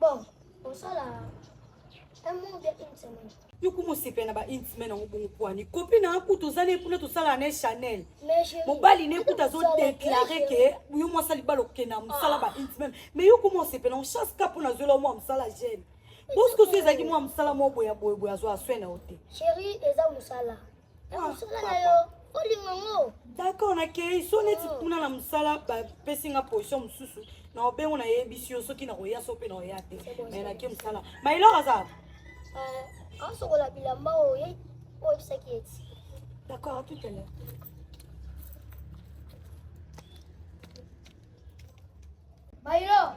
Bon, on sort là. Un mois ou bien une semaine. yo kuma osepela na baintime nango bongo pwani kopi na akutu oza ne kuna tosala na ye chanel Mais je. mobali ne kuta azodeklare ke yo mwasi alibala okenda mosala baintime mais yo kuma osepela ngo chance ka mpona azwela yo mwa mosala jeune boskoso ezalaki mwa mosala mwa boya boye boye azwa aswe na yo te Chérie, eza musala. mosala na yo olinga ngo d'accord nakei so neti oh. kuna na mosala bapesi nga position mosusu na obengo nayebisi yo soki nakoya so mpe naoya te mai nake mosala mailor aza eh, asokola bilamba oyo oyebisaki eti d'accord à tout à l'heure mailor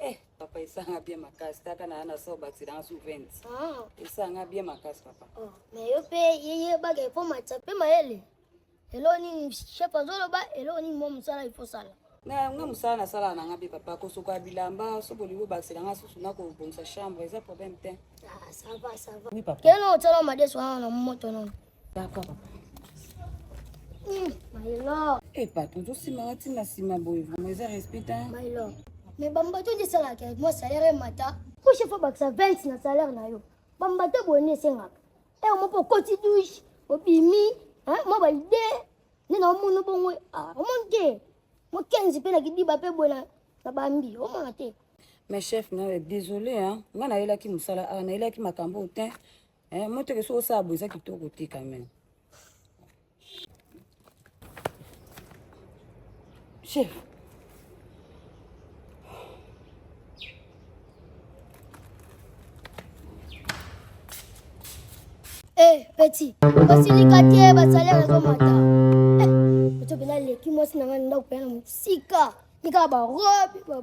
Eh, papa esanga bien makasi taka na na so bati dans sous 20. Ah. Esanga bien makasi papa. Oh, mais yo pe yeye ba ke po matsa pe mayele. Elo ni chef azolo ba elo ni mo musala il faut sala. Na nga musala na sala na nga be papa ko soka bilamba so bolingo ba sela nga susu na ko bonsa chambre eza problème te. Ah, ça va ça va. Oui papa. Keno tsala made so na moto non. D'accord. My lord. Eh papa, ozo sima wati na sima boye vraiment eza respect hein. My lord. Mais bamba to di sala ke moi salaire mata. Ko chef ba sa 20 na salaire na yo. Bamba te boni senga. Eh on peut koti douche, obimi, hein, moi ba idée. Ni na omono bongo. Ah, omon ke. Mo 15 pe na kidiba pe bona na bambi. Omona te. Mais chef na désolé hein. Nga na yelaki musala, ah na yelaki makambo te. Eh, moteke soki osala boye eza kitoko te quand même chef Eh, petit, osilika te basali nazomata oto mpenza leki mwasi na ngai ndako mpenza na mosika likaka barobe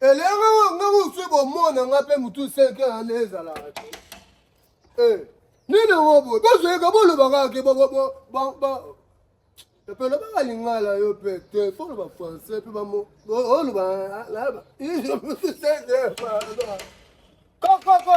Elenge oyo nga mosu bomona nga mpe motu 5 heure ane ezalaka te eh, nini yango boye bazoyeka bolobaka ke epelo baka lingala yo mpe te fo loba français mpe bamo oloba kokoko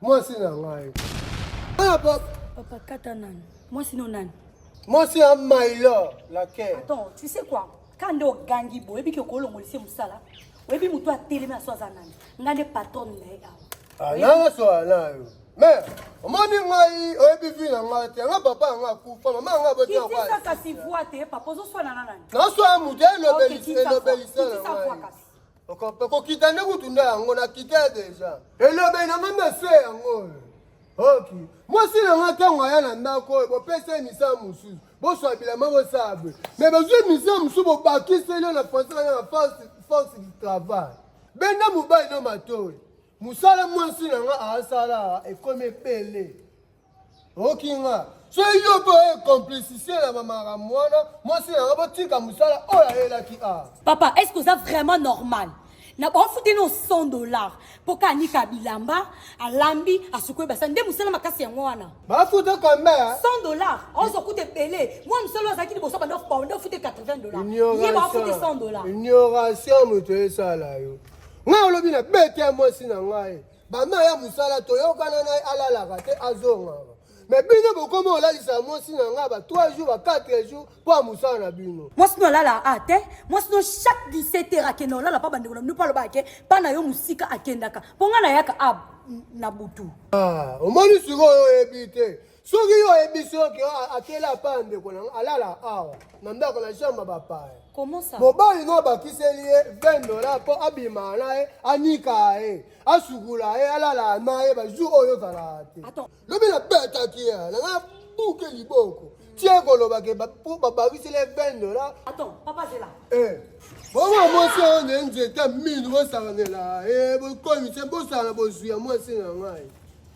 Mwasi na ngai. Ah, papa. Papa kata nani? Mwasi no nani? Mwasi ya Mailo la kere. Attends, tu sais quoi? Kande ogangi bo, ebi ke kolongolise musala. Oyebi mutu atelemi aso aza nani? Nga nde patron na ye awa. Ah, nanga so ana yo. Mais omoni ngai oyebi vi na ngai te yanga papa yanga akufa mama yanga botiakisa kasi voi te papa ozoswana na nani naswana moto elobelisa na ngai okokita nde kutu nde yango nakita deja elobe na nga mese yango oyo ok mwasi na nga ntango aya na ndako oyo bopesa ye misala mosusu boswa bilama bosala boye me bazwi misala mosusu bobakiseli yo na français bana na force du travail benda mobali no matoi mosala mwasi na nga asala ekomi ebele okinga soki yo mpe oye complicité na bamara mwana mwasi na nga botika mosala oyo ayelaki a papa est ce que oza vraiment normal na bafuteli no 100 dollars mpo ka anika bilamba alambi asukoi basa nde mosala makasi yango wana bafuta combien 100 dollars ozo kuta ebele mwa mosala oyo azalaki liboso banda banda ofute 80 dollars ye bafute 100 dollars ignoration moto esala yo ngai olobi na bete ya mwasi na ngai Bama ya musala toyokana na ye alalaka te azongaka. Mais bino bokoma olalisa mwasi na ngai ba 3 jours ba 4 jours mpo ya mosala na bino. Mwasi no alala a te, mwasi no chaque 17 heures akenda olala mpa bandeko na bino mpo alobaka ke mpa na yo mosika akendaka mpo ngai nayaka a na butu. Ah, omoni sikoyo oyebi te. soki yo oyebisi yo ke akeli apaya ndeko na alala awa na ndako na jambe bapaya mobali no abakiseli ye 20 dola mpo abima na ye anika ye asukula ye alala na ye bajour oyo ozalaka te lobi nabetaki ye nanga buke liboko tie koloba ke mpo babakiseli ye 20 dola bongo mwasi oyo na nzete minu bosakanela ye bokomise bosala bozwi ya mwasi na ngai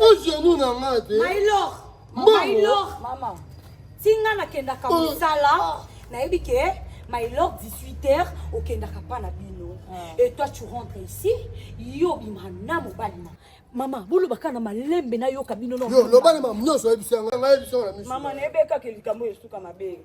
ogenou na nga te mama tinga nakendaka oh. mosala ah. nayebi ke my lord 18 heures okendaka mpa na bino ah. et toi tu rentre ici yo obima na mobali na mama boloba kaka na malembe nayoka bino loba na mamu nyonso oyebisi yango nayebisi yango na miso mama nayebekaka likambo esuka mabe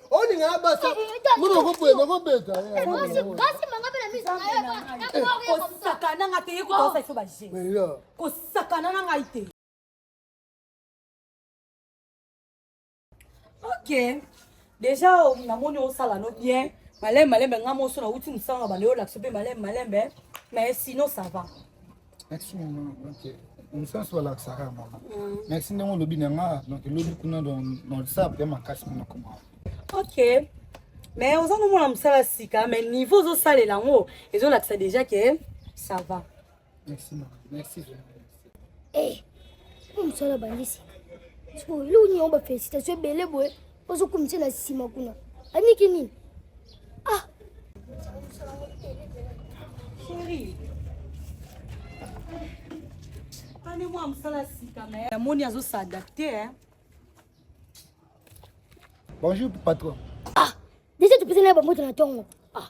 olinga na basa mona okobeta okobeta kosakana nga te ye kotosa iso baje kosakana na ngai te ok déjà namoni osala no bien malembe malembe nga moso nauti mosala na banda yo olakisa mpe malembe malembe mais sinon ça va merci maman donc mosanso balakisaka ya mama merci ndenge olobi na nga donc elobi kuna na whatsapp ya makasi mpo nakoma ok mais oza nomona mosala sika mais niveau ozosalela yango ezolakisa déjà ke ça va merci mama merci eh, mosala bandi sika sikoyo eloko nyongo bafélicitation ebele boye Ozo kumisa na sima kuna. Aniki nini? Ah. Chérie. Ani mwa msala sika na ya moni azo s'adapter hein. Bonjour patron. Ah, déjà tu peux na ba moto na tongo. Ah,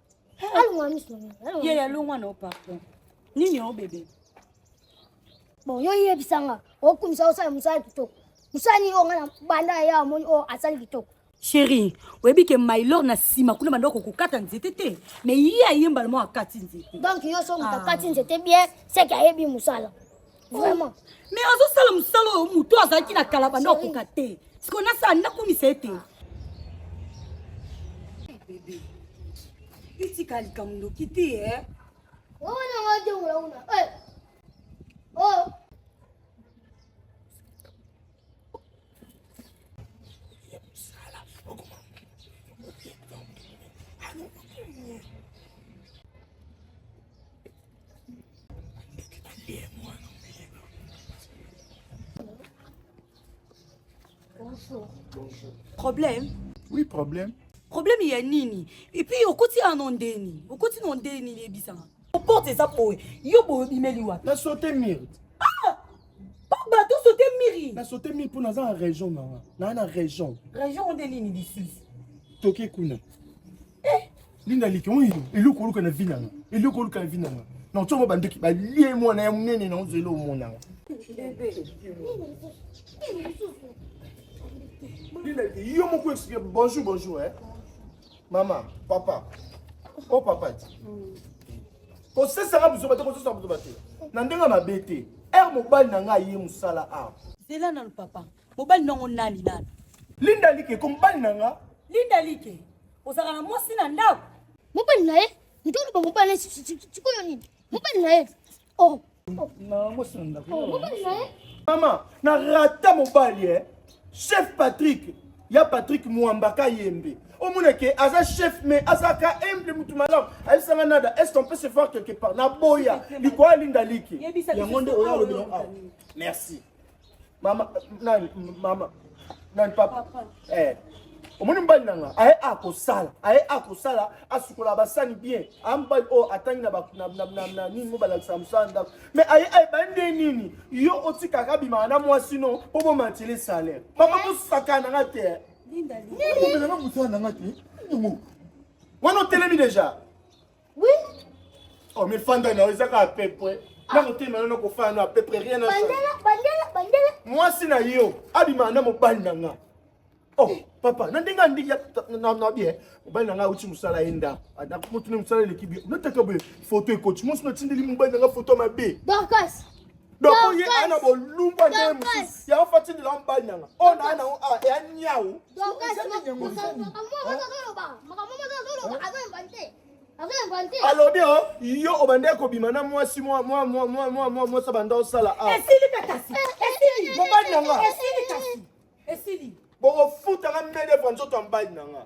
ye ya longwa na opardon nini o bebe bon yo yebisa nga okumisa osala mosala kitoko mosala nini oyo nga na banda ya yawa moni oyo asali kitoko sheri oyebi ke mailor na nsima kuna banda kokokata nzete te mais ye ayembala mwa akati nzete donc yo so moto akati nzete bien seke ayebi mosala vraiment mais azosala mosala oyo moto azalaki na kala banda okoka te sikoyo nasala nakumisa ete bebe itika likambo noki te e wana wajongola una o problème oui problème problème ya nini epuis okoti ano ndeni okoti no ndeni yebisanga Porte eza boye. Yo boye bimeli wapi? Na sauter mur. Ah! Papa to sauter mur. Na sauter mur pour naza na région na. Na na région. Région on delini disus. Toke kuna. Eh, linda likon yo. Eloko oluka na vina na. Eloko oluka na vina na. Na otsongo bandoki ba lie mwana ya munene na ozelo mona. Bebe. Linda yo moko explique bonjour bonjour eh. Mama, papa. Oh papa ti. Mm. Kosesaka buzoba te, kosesaka buzoba te. Na ndenge mabe te. Ere mobali na ngai ye mosala awa. Zela nanu papa. Mobali nango nani nani? Linda Like, ko mobali na nga. Linda Like, ozalaka na mwasi na ndako? Mobali na ye, ndolo ba mobali na ye, sikoyo nini? Mobali na ye. Oh. Mama, na rata mobali eh. Chef Patrick, ya Patrick Mwambaka Yembe. Omona ke aza chef mais aza ka humble mutu malamu. Ayebisa nga nada, est-ce qu'on peut se voir quelque part? Na boya, likoa linda liki. Yango nde oya lobi. Merci. Mama nani mama nani papa. papa. Eh. omoni mobali na nga aye akosala aye akosala asukola basani bien aya mobali oyo oh, atangi na nini mo balakisa mosala ndako me aye ayeba nde nini yo otikaka abimaka na mwasi no mpo bomatile salaire mama mosakana nga te nanga mosala na nga te wana otelemi deja Oui. Oh mais fanda na ozaka à peu près. Ah. Na kotema yo na kofana na à peu près rien na. Bandela bandela bandela. Mwasi na yo abima na mobali na nga. Oh eh. papa na ndenge andi ya na na bien. Mobali na nga uti musala enda. Ada mutu ne musala leki bi. Na tata be photo ekoti. Mwasi na tindeli mobali na nga photo mabe. Dorcas. donc oye aya na bolumba nde ye mosusu yango fo atindela yo mobali nanga oyo naa nango awa eya niau alobi o oh, yo obandaki kobima na mwasi mwasa banda osala awa mobali nanga bokofutanga mede vwa nzoto ya mobali nanga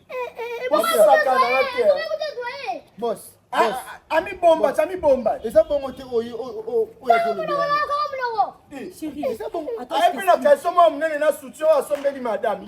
ami bomba ami bomba eza bongo te oyo oyo ayebi na kalso mwa monene na soutien oyo asombeli madame